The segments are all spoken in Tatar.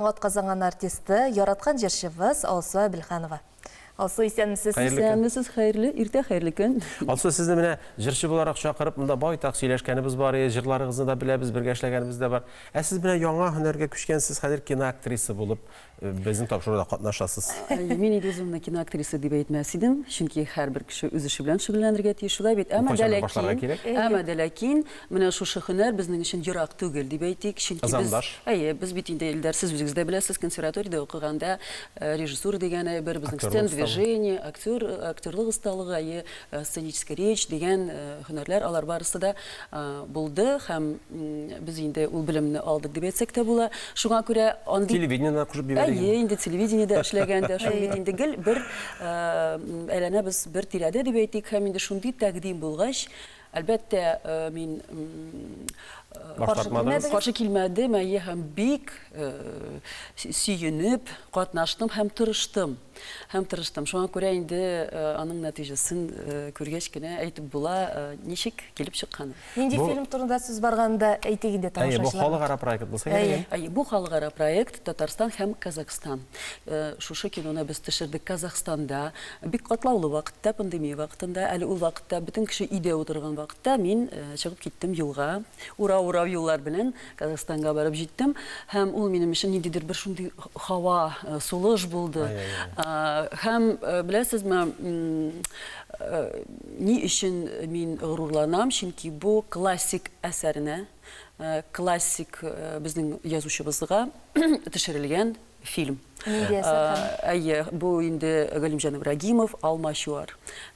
Атказанган артисты, яраткан җырчыбыз Алсу Әбелханова. Алсу, исәнмесез? Хәерле көн. Исәнмесез, хәерле иртә, хәерле көн. Алсу, сезне менә җырчы буларак чакырып, монда байтак сөйләшкәнебез бар иде, җырларыгызны да беләбез, бергә эшләгәнебез дә бар. Ә сез менә яңа һөнәргә күчкәнсез, хәзер киноактриса булып безнең тапшыруда катнашасыз. Мин инде үземне киноактриса дип әйтмәс идем, чөнки һәрбер кеше үз эше белән шөгыльләнергә тиеш, шулай бит? Әмма дә ләкин, әмма дә ләкин, Менә шушы һөнәр безнең өчен ерак түгел, дип әйтик, чөнки без, Ызандаш. әйе, без бит инде, Илдар, сез үзегез дә беләсез, консерваториядә укыганда, режиссура дигән әйбер, безнең Актерлык сцен осталыгы. движение, актер, актерлык осталыгы, әйе, сценическая речь дигән һөнәрләр, алар барысы да булды һәм без инде ул белемне алдык дип әйтсәк тә була. Шуңа күрә андый, Телевидениене кушып җибәрик әйе, инде. инде телевидениедә эшләгән дә шул бит инде, гел бер әйләнәбез бер тирәдә, дип әйтик, һәм инде шундый тәкъдим булгач, Әлбәттә, мин каршы килмәдем, әйе, һәм бик сөенеп катнаштым һәм тырыштым. Һәм тырыштым. Шуңа күрә инде аның нәтиҗәсен күргәч кенә әйтеп була, ничек килеп чыкканын. Нинди фильм турында сүз барганда әйтик инде тамашачыларга. Әйе, бу халыкара проект булса кирәк. Әйе, бу халыкара проект Татарстан һәм Казахстан. Шушы киноны без төшердек Казахстанда, бик катлаулы вакытта, пандемия вакытында. Әле ул вакытта бөтен кеше өйдә утырган вакытта мин чыгып киттем юлга. Урау-урау юллар белән Казахстанга барып җиттем. Һәм ул минем өчен ниндидер бер шундый һава, сулыш булды. Һәм беләсезме, ни өчен мин горурланам, чөнки бу классик әсәрне Э, классик э, безнең язучыбызга төшерелгән фильм. Э, әйе, бу инде Галимҗан Ибрагимов Алма чуар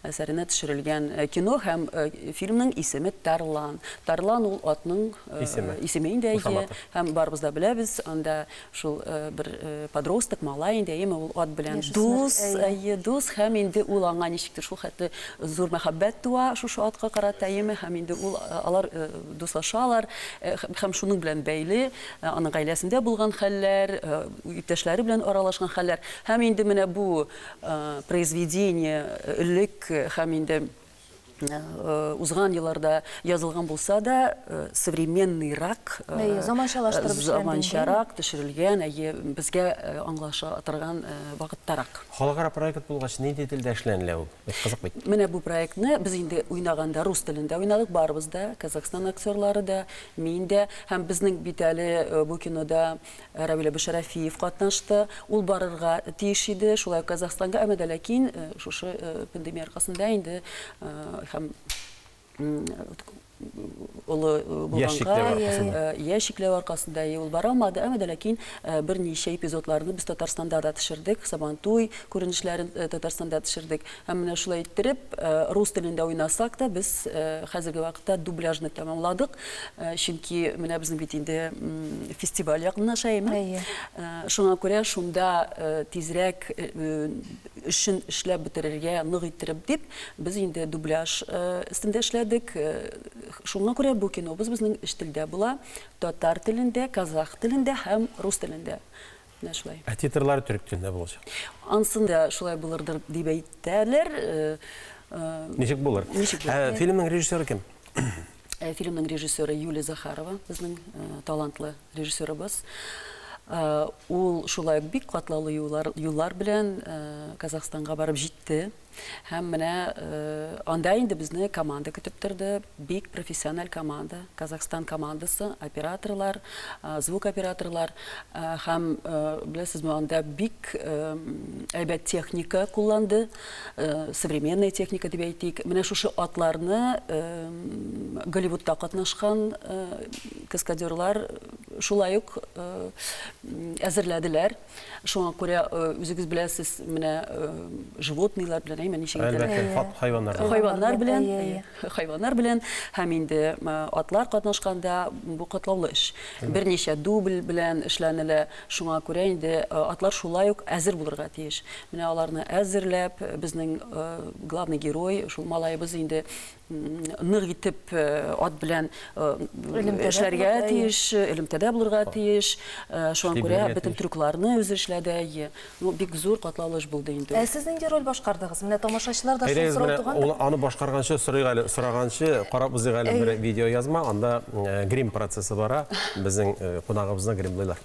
әсәренә төшерелгән кино һәм фильмның исеме Тарлан. Тарлан ул атның исеме инде әйе. Һәм барыбыз да беләбез, анда Шул бер подросток, малай инде, әйеме, ул ат белән дус, әйе, дус, һәм инде ул аңа ничектер шул хәтле зур мәхәббәт туа шушы атка карата, әйеме, һәм инде ул, алар дуслашалар, һәм шуның белән бәйле аның гаиләсендә булган хәлләр, иптәшләре белән аралашкан хәлләр, һәм инде менә бу произведение, элек, һәм инде Э, узган елларда язылган булса да э, современныйрак э, заманчалаштырып заманчарак төшерелгән әйе безгә аңлаша торган вакыттарак халыкара проект булгач нинди телдә эшләнелә ул бик кызык бит менә бу проектны без инде уйнаганда рус телендә уйнадык барыбыз да казахстан актерлары да мин дә һәм безнең бит әле бу кинода Равил Әбүшәрәфиев катнашты. Ул барырга тиеш иде, шулай ук Казахстанга, әмма дә ләкин шушы пандемия аркасында инде һәм олы булганга, яшь чикләве аркасында ул бара алмады, әмма дә ләкин берничә эпизодларны без Татарстанда да төшердек, Сабантуй күренешләрен Татарстанда төшердек. Һәм менә шулай иттереп, рус телендә уйнасак та, без хәзерге вакытта дубляжны тәмамладык. Чөнки менә безнең бит инде фестиваль якынлаша, әйеме? Әйе. Шуңа күрә шунда тизрәк эшен эшләп бетерергә, нык иттереп дип, без инде дубляж өстендә эшләдек. Шуңа күрә бу кинобыз безнең өч телдә була, татар телендә, казах телендә һәм рус телендә. Менә шулай. Ә титрлары төрек телендә булачак. Ансын да шулай булырдыр дип әйтәләр. Э, э, ничек булыр? Ничек булыр? Ә, фильмның режиссеры кем? Э, фильмның режиссеры Юлия Захарова, безнең талантлы режиссерыбыз. Ул шулай бик катлаулы юллар, юллар белән Казахстанга барып җитте. Һәм менә анда инде безне команда көтеп торды. Бик профессиональ команда. Казахстан командасы, операторлар, звук операторлар. Һәм беләсезме, анда бик әйбәт техника кулланды. Современная техника дип әйтик. Менә шушы атларны Голливудта катнашкан каскадерлар шулай ук әзерләделәр. Шуңа күрә үзегез беләсез, менә животныйлар белән, әйме, ничек итәләр? Әлбәттә, хайваннар белән. Хайваннар белән, хайваннар белән һәм инде атлар катнашканда бу катлаулы эш. Берничә дубль белән эшләнелә. Шуңа күрә инде атлар шулай ук әзер булырга тиеш. Менә аларны әзерләп, безнең главный герой, шул малаебыз инде нык итеп э, ат белән э, эшләргә тиеш, элемтәдә булырга тиеш. Э, шуңа күрә бөтен трюкларны үзе эшләде. Ну, бик зур катлаулы эш булды инде. Ә сез нинди роль башкардыгыз? Менә тамашачылар да шул сорау туган. Ул аны башкарганчы сорый әле, сораганчы карап үзең әле бер видео язма, анда грим процессы бара. Безнең кунагыбызны гримлыйлар.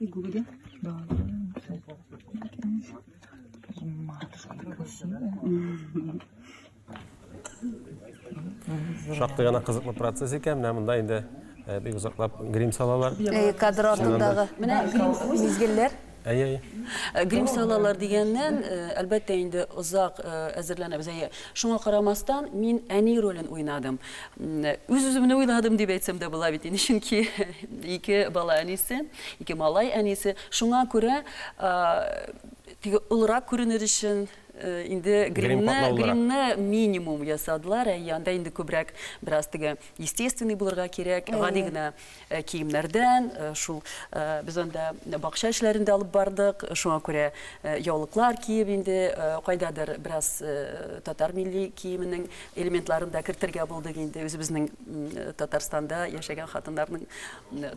Гугли? Да. Шактый гына кызыклы процесс икән. Менә монда инде э, бик озаклап грим салалар. Э, кадр артындагы. Менә грим мизгелләр. Әйе, әйе. Э, грим салалар дигәннән, э, әлбәттә инде озак э, әзерләнәбез. Әйе. Шуңа карамастан, мин әни ролен уйнадым. Үз-үземне уйладым дип әйтсәм дә була бит инде, чөнки ике бала әнисе, ике малай әнисе. Шуңа күрә теге олырак күренер өчен инде гримны, гримны минимум ясадылар, ә анда инде күбрәк бераз теге естественный булырга кирәк, гади генә киемнәрдән, шул без анда бакча эшләрен дә алып бардык, шуңа күрә яулыклар киеп инде кайдадыр бераз татар милли киеменең элементларын да кертергә булдык инде, үзебезнең Татарстанда яшәгән хатыннарның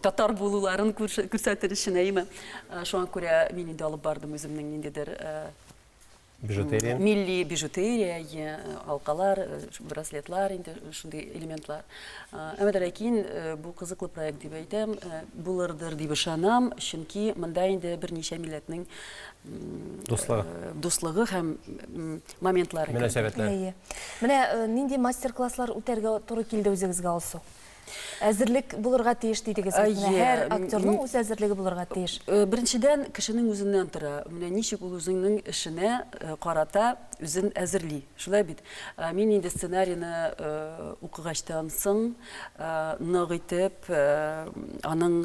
татар булуларын күрсәтер өчен, әйеме. Шуңа күрә мин инде алып бардым үземнең ниндидер Бижутерия. Милли бижутерия, алкалар, браслетлар, инде шундый элементлар. Әмма дә ләкин бу кызыклы проект дип әйтәм, булырдыр дип ышанам, чөнки монда инде берничә милләтнең дуслыгы дуслыгы һәм моментлары мөнәсәбәтләре. Менә нинди мастер-класслар үтәргә туры килде үзегезгә, Алсу? Әзерлек булырга тиеш дидегез бит. Менә һәр актерның үз әзерлеге булырга тиеш. Э, беренчедән, кешенең үзеннән тора. Менә ничек ул үзеңнең эшенә э, карата үзен әзерли. Шулай бит. Э, мин инде сценарийны укыгачтан соң нык итеп аның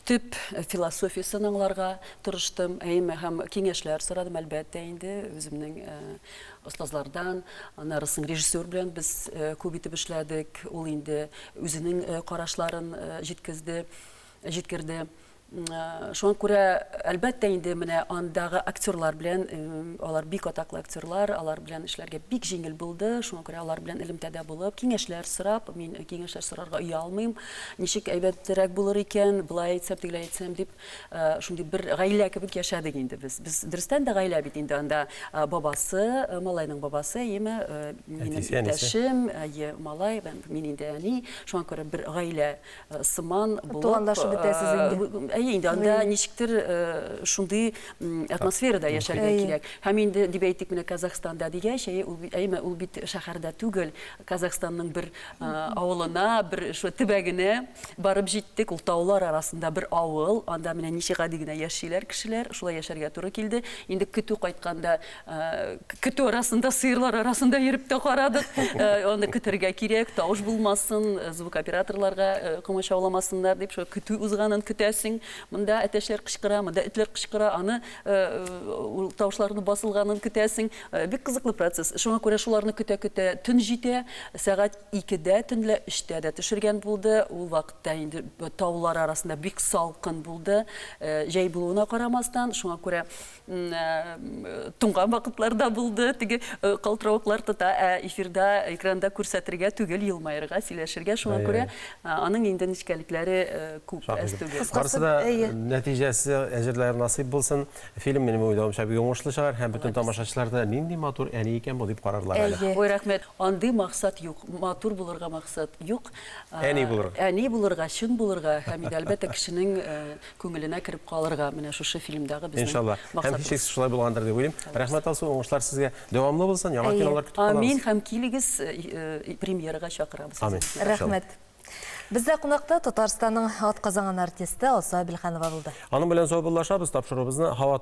төп философиясен аңларга тырыштым. Әйме һәм киңәшләр сорадым, әлбәттә, инде үземнең остазлардан, аннары соң режиссер белән без күп итеп эшләдек, ул инде үзенең карашларын җиткезде, җиткерде. Шуңа күрә, әлбәттә инде, менә андагы актерлар белән, алар бик атаклы актерлар, алар белән эшләргә бик җиңел булды, шуңа күрә алар белән элемтәдә булып, киңәшләр сорап, мин киңәшләр сорарга оялмыйм, ничек әйбәтрәк булыр икән, болай әйтсәм, тегеләй әйтсәм дип, Шундый бер гаилә кебек яшәдек инде без. Без дөрестән дә гаилә бит инде анда бабасы, малайның бабасы, әйеме, минем иптәшем, әйе, малай, мин инде әни. Шуңа күрә бер гаилә сыман булып. Туганлашып бетәсез инде. Әйе, инде анда ничектер шундый атмосферада яшәргә кирәк. Һәм инде дип әйтик, менә Казахстанда дигәч, әйеме, ул бит шәһәрдә түгел. Казахстанның бер авылына, бер шулай төбәгенә барып җиттек. Ул таулар арасында бер авыл. Анда менә ничек гади генә яшиләр кешеләр. Шулай яшәргә туры килде. Инде көтү кайтканда, көтү арасында, сыерлар арасында йөреп тә карадык. Аны көтәргә кирәк, тавыш булмасын, звук операторларга комачауламасыннар дип, шулай көтү узганын көтәсең. Монда әтәчләр кычкыра, монда этләр кычкыра, аны, ул тавышларны басылганын көтәсең. Бик кызыклы процесс. Шуңа күрә шуларны көтә-көтә төн җитә. Сәгать икедә төнлә, өчтә дә төшергән булды. Ул вакытта инде таулар арасында бик салкын булды. Җәй булуына карамастан, шуңа күрә туңган вакытлар да булды. Теге калтыравыклар тота, ә эфирда, экранда күрсәтергә түгел, елмаерга, сөйләшергә. Шуңа күрә аның инде нечкәлекләре күп, әз түгел. Барысы да нәтиҗәсе әҗерләре насыйп булсын. Фильм минем уйлавымча бик уңышлы чыгар һәм бөтен тамашачылар да нинди матур әни икән бу дип карарлар әле. Әйе. Ой, рәхмәт. Андый максат юк. Матур булырга максат юк. Әни булырга. Әни булырга, чын булырга һәм иде әлбәттә кешенең күңеленә кереп калырга. Менә шушы фильмдагы безнең Иншалла. Һәм һичшиксез шулай булгандыр дип уйлыйм. Рәхмәт, Алсу, уңышлар сезгә. Дәвамлы булсын, яңа кинолар көтеп калабыз. Амин һәм килегез, премьерага чакырабыз. Амин. Рәхмәт. Бездә кунакта Татарстанның атказанган артисты Алсу Әбелханова булды. Аның белән саубуллашабыз, тапшыруыбызны һава